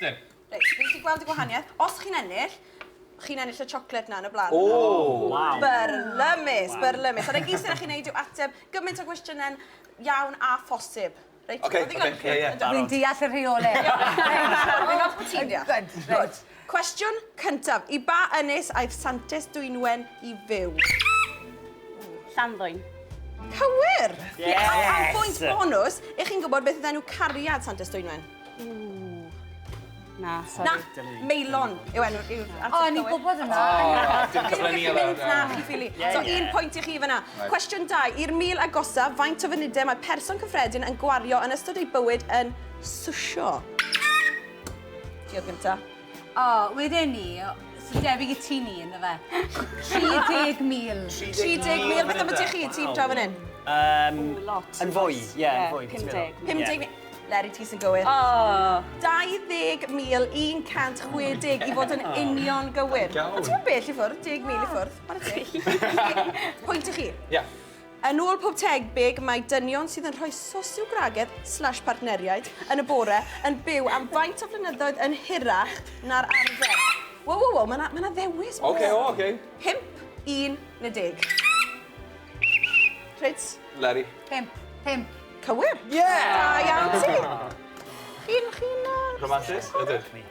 Dim. Reit, fi'n gallu gweld y gwahaniaeth. Os chi'n ennill, chi'n ennill y chocolate na yn y blaen. O! Waw! Byrlymus, byrlymus. A na gyd sydd â chi wneud yw ateb gymaint o gwestiynau'n iawn a phosib. Reit, ma' ddigon i chi. Dwi'n deall y rheolau. Dwi'n meddwl bod ti'n deall. Good, good. Cwestiwn cyntaf, i ba ynys aeth Santes Dwynwen i fyw? Llanddwyn. Cywir! Yes! Diolch am bwynt bonws i chi'n gwybod beth oedd enw cariad Santes Dwynwen. Na, sori. Na, Meilon yw enw. O, ni'n gwybod yna. Dim cyfle ni yna. Na, chi'n ffili. So, un pwynt i chi fyna. Cwestiwn dau. I'r mil agosaf, faint o funudau mae person cyffredin yn gwario yn ystod ei bywyd yn swsio? Diolch gynta. O, wedyn ni, sy'n debyg i ti ni, ynddo fe? 30,000. 30,000, beth am y ti chi, ti'n draw fan hyn? Um, Ooh, lot. Yn fwy, ie, yeah, yn fwy. 50. 50. Leri, ti sy'n gywir. Oh. 20,160 i fod yn union gywir. A ti'n bell i ffwrdd, 10,000 i ffwrdd. Pwynt i chi. Ie. Yeah. Yn ôl pob tebyg, mae dynion sydd yn rhoi sosiogragedd slash partneriaid yn y bore yn byw am faint o flynyddoedd yn hirach na'r arfer. Wow, wow, wow, mae yna ma ddewis. Oce, okay, o, oce. Okay. 5, 11. Trids? Larry. 5, 5. Cywir. Yeah! Da iawn ti. Chi'n, chi'n... Rhamatus? Ydych.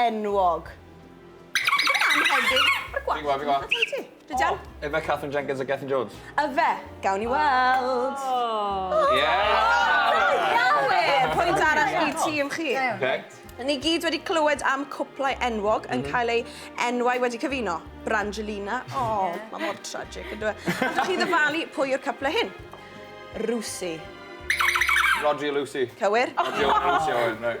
Enwog. Fi'n gwybod, fi'n gwybod. Dwi dal. Ife Katherine Jenkins a Gethin Jones? Ife. Gawn ni weld. O! Ie! Gawn! Pwynt arall i tîm chi. Oce. Ni gyd wedi clywed am cwplau enwog yn cael eu enwau wedi cyfuno. Brangelina. O, mae mor tragic, yndyw e? Allwch chi ddyfalu pwy yw'r cwplau hyn? Rwsi. Rhodri a Lucy. Cywir. Rhodri a Lucy, Owen, reit.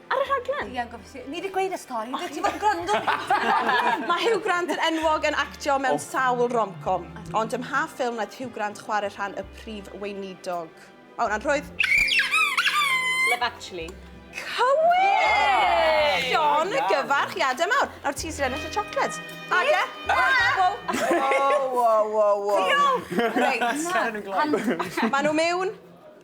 Ar y rhaglen? Iawn, gofio si. Ni wedi gweud y stori, beth ti'n fawr gwrando? Mae Hugh Grant yn enwog yn actio mewn oh. sawl romcom, ond ym mha ffilm wnaeth Hugh Grant chwarae rhan y prif weinidog? Mae hwnna'n rhwydd. Love Actually. Cywir! John, y gyfarch, i Adam awr. Nawr ti sy'n ennill y chocolate. Ada? Wow, wow, wow, wow. Diolch! Reit. Maen nhw mewn.